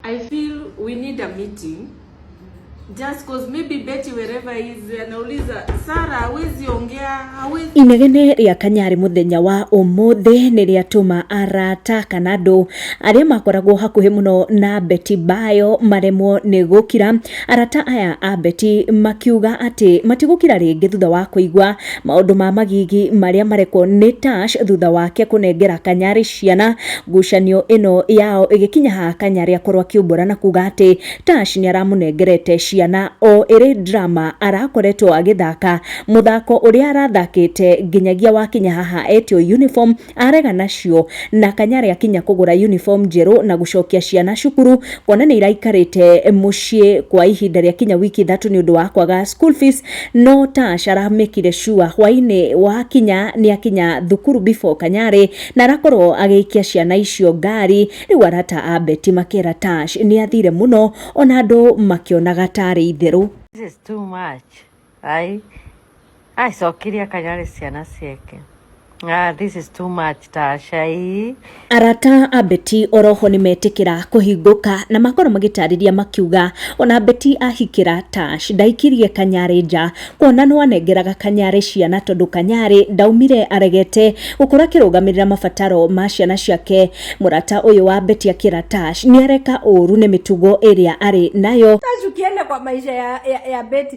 I feel we need a meeting just cause maybe Betty wherever he is anauliza Sara hawezi ongea hawezi inegene rĩa kanyarĩ mũthenya wa ũmũthĩ nĩ rĩatũma arata kana andũ arĩa makoragwo hakuhĩ mũno na beti bayo maremwo nĩ gũkira Arata aya a Betty makiuga atĩ matigũkira rĩngĩ thutha wa kũigua maũndũ ma magigi marĩa marekwo nĩ Tash thutha wake kũnengera Kanyari ciana. Ngucanio ĩno yao ĩgĩkinya ha Kanyari akorwo akiumbũra na kuga atĩ Tash nĩaramũnengerete ciana o ĩrĩ drama arakoretwo agĩthaka mũthako ũrĩa arathakĩte nginyagia wakinya haha etio uniform Arega nacio na Kanyari akinya kũgũra uniform njerũ na gũcokia ciana cukuru kuona nĩ iraikarĩte mũciĩ kwa ihinda rĩa kinya wiki ithatũ nĩ ũndũ wa kwaga school fees no Tash aramekire sure hwainĩ wakinya nĩ akinya thukuru before Kanyari na arakorwo agĩikia ciana icio ngari. Rĩu arata a Betty makera Tash nĩ athire mũno ona andũ makĩonaga tarĩ itherũ. This is too much. Ai. Ai, cokire akanyare ciana ciake. Ah, this is too much, Tasha. Ii. arata a beti oroho nĩ metĩkĩra kũhingũka na makorwo magĩtarĩria makiuga ona beti ahikĩra tash ndaikirie kanyarĩ nja kuona no anengeraga kanyarĩ ciana tondũ kanyarĩ ndaumire aregete gũkorwo akĩrũgamĩrĩra mabataro ma ciana ciake mũrata ũyũ wa beti akĩra tash nĩ areka ũũru nĩ mĩtugo ĩrĩa arĩ nayo Tash ukienda kwa maisha ya, ya, ya Betty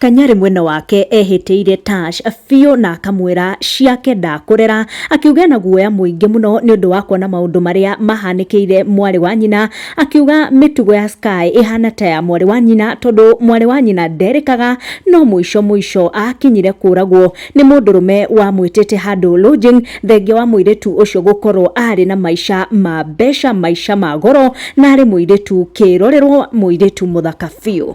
Kanyarĩ mwena wake ehĩtĩire Tash biũ na akamwĩra ciake ndakũrera, akiuga ena guoya mũingĩ mũno nĩ ũndũ wa kuona maũndũ marĩa mahanĩkĩire mwarĩ wa nyina, akiuga mĩtugo ya Sky ĩhana ta ya mwarĩ wa nyina tondũ mwarĩ wa nyina nderĩkaga no mũico mũico akinyire kũragwo nĩ mũndũrũme wamwĩtĩte handũ lodging thengia wa mũirĩtu ũcio gũkorwo arĩ na maica ma mbeca, maica ma goro na arĩ mũirĩtu kĩrorerwo, mũirĩtu mũthaka biũ.